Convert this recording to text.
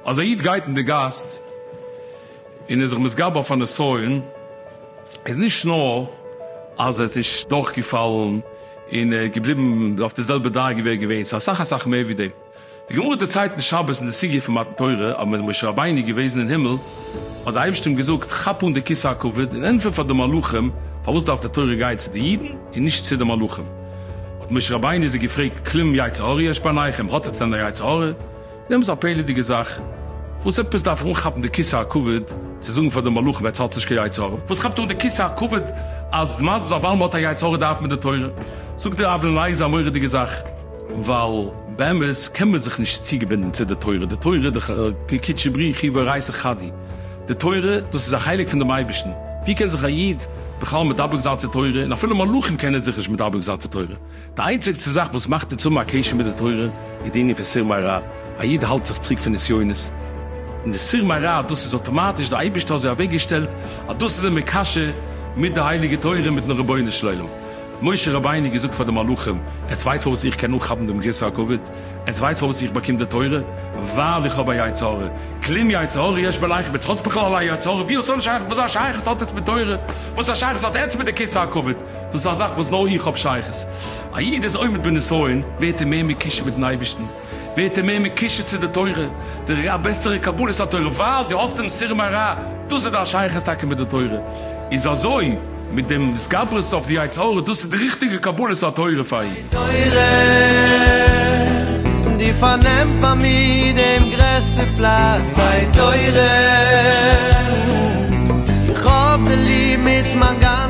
אז א איד גייט אין די גאס און איז זיך מתגבר אויף א נסיון, איז נישט נאר אז ער איז נישט דורכגעפאלן און ער איז געבליבן אויף די זעלבע דרגה ווי ער איז געווען, ס'איז אסאך אסאך מער ווי דעם. די גמרא דערציילט אין שבת אין די סוגיא פון מתן תורה, אז ווען איז משה רבינו געוועזן אין הימל, האט דער אייבערשטער אים געזאגט, כאפ אן די כסא הכבוד און ענטפער פאר די מלאכים, פארוואס דארף די תורה גיין צו די אידן און נישט צו די מלאכים? האט משה רבינו איז ער געפרעגט, כלום יצר הרע יש בעיניכם, האט עטס דען א יצר הרע? און עפעס א פעלערדיגע זאך, וואס עפעס דארף ער אנכאפן די כסא הכבוד צו זאגן פאר די מלאכים עטס האטס נישט קיין יצר הרע? וואס כאפט אן די כסא הכבוד אז מ'איז מסביר זיין ווייל מ'האט א יצר הרע דארף מען די תורה? זאגט דער אבן לייזער א מורא'דיגע זאך. ווייל באמת קען מען זיך נישט צוגעבינדן צו די תורה, די תורה די קדשי בריחי ואורייתא חדי, די תורה דאס איז א חלק פון דעם אייבערשטן, ווי קען זיך א איד בכלל מדבק זיין צו תורה, און אפילו מלאכים קענען זיך נישט מדבק זיין צו תורה, די איינציגסטע זאך וואס מאכט אונז האבן א קשר מיט די תורה איז די ענין פון סור מרע, א איד האלט זיך צוריק פון נסיונות, און די סור מרע דאס איז אטאמאטיש די אייבערשטער אזוי אוועקגעשטעלט אז דאס איז אים מקשר מיט די הייליגע תורה מיטן רבונו של עולם. משה רבינו געזאגט פאר די מלאכים, עטס ווייסט פארוואס איך קען אנכאפן דעם גרסא הכבוד? עטס ווייסט פארוואס איך באקום די תורה? ווייל איך האב א יצר הרע, כלים יצר הרע יש בלעכם, עטס האטס בכלל א יצר הרע? ווי האטס אן שייכות? וואס א שייכות האט עטס מיט תורה? וואס א שייכות האט עטס מיט די כסא הכבוד? דאס איז א זאך וואס נאר איך האב שייכות. א איד איז עומד בנסיון, ווערט ער מער מקושר מיטן אייבערשטן. ווערט ער מער מקושר צו די תורה, די ר א בעסערע קבלת התורה, ווייל דו האסט דעם סור מרע, דאס איז דיין שייכות טאקע מיט די תורה, איז אזוי מיט דעם התגברות אויף די יצר הרע, דאס איז די ריכטיגע קבלת התורה פאר אים. די תורה, דו פארנעמסט ביי מיר דעם גרעסטע פלאץ, די תורה, איך האב דיר ליב מיט מיין גאנ.